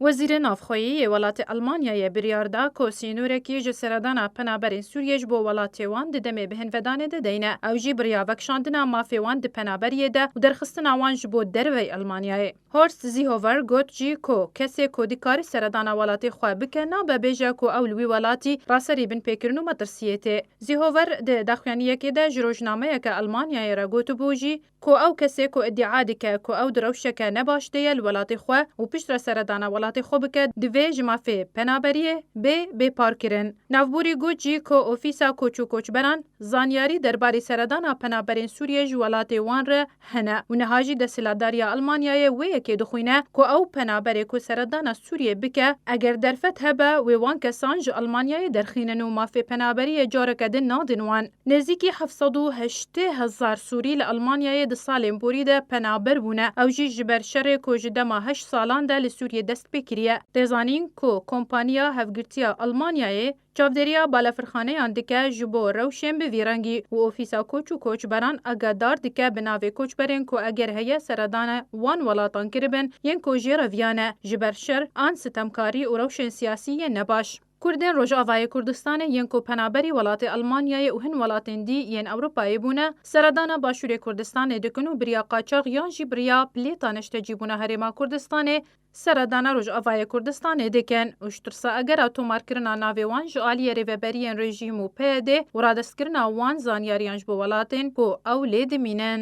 Wezîrê Navxweyî yê welatê Elmanyayê biryar da ku sînorekî ji seredana penaberên Sûriyê ji bo welatê wan di demê bihinvedanê de deyne. Ew jî biriya vekişandina mafê wan di penaberiyê de û derxistina wan ji bo derveyî Elmanyayê. Horst Seehofer got jî ku kesê ku dikare seredana welatê xwe bike nabe bêje ku ew li wî welatî raserî binpêkirin û metirsiyê tê. Seehofer di daxuyaniyekê de ji rojnameyeke Elmanyayê re gotibû jî, Ku ew kesê ku îdia dike ku ew di rewşeke ne baş de ye li welatê xwe û piştre seredana welatê xwe bike divê ji mafê penaberiyê bê bêparkirin. Navbûrî got jî ku ofîsa koç û koçberan zanyarî derbarê seredana penaberên Sûriyê ji welatê wan re hene û niha jî desthilatdariya Elmanyayê wê yekê dixwîne ku ew penaberê ku seredana Sûriyê bike eger derfet hebe wê wan kesan ji Elmanyayê derxînin û mafê penaberiyê careke din nadin wan. Nêzîkî heft sed û heştê hezar Sûrî li Elmanyayê di salên borî de penaber bûne. Ew jî ji ber şerê ku ji dema heşt salan de li Sûriyê dest pê kiriye. Tê zanîn ku Kompaniya Hevgirtiya Elmanyayê çavdêriya balafirxaneyan dike ji bo rewşên bi vî rengî û ofîsa koç û koçberan agadar dike bi navê koçberên ku eger heye seredana wan welatan kiribin yên ku jê re viya ne ji ber şer an sitemkarî û rewşên siyasî yên nebaş. Kurdên Rojavayê Kurdistanê yên ku penaberî welatê Elmanyayê û hin welatên dî yên Ewropayê bûne, seredana Başûrê Kurdistanê dikin û biriya qaçax yan jî biriya plêta neştecîbûna Herêma Kurdistanê seredana Rojavayê Kurdistanê dikin û ji tirsa egera tomarkirina navê wan ji aliyê rêveberiyên rejîm û PYDê û radestkirina wan zanyariyan ji bo welatên ku ew lê dimînin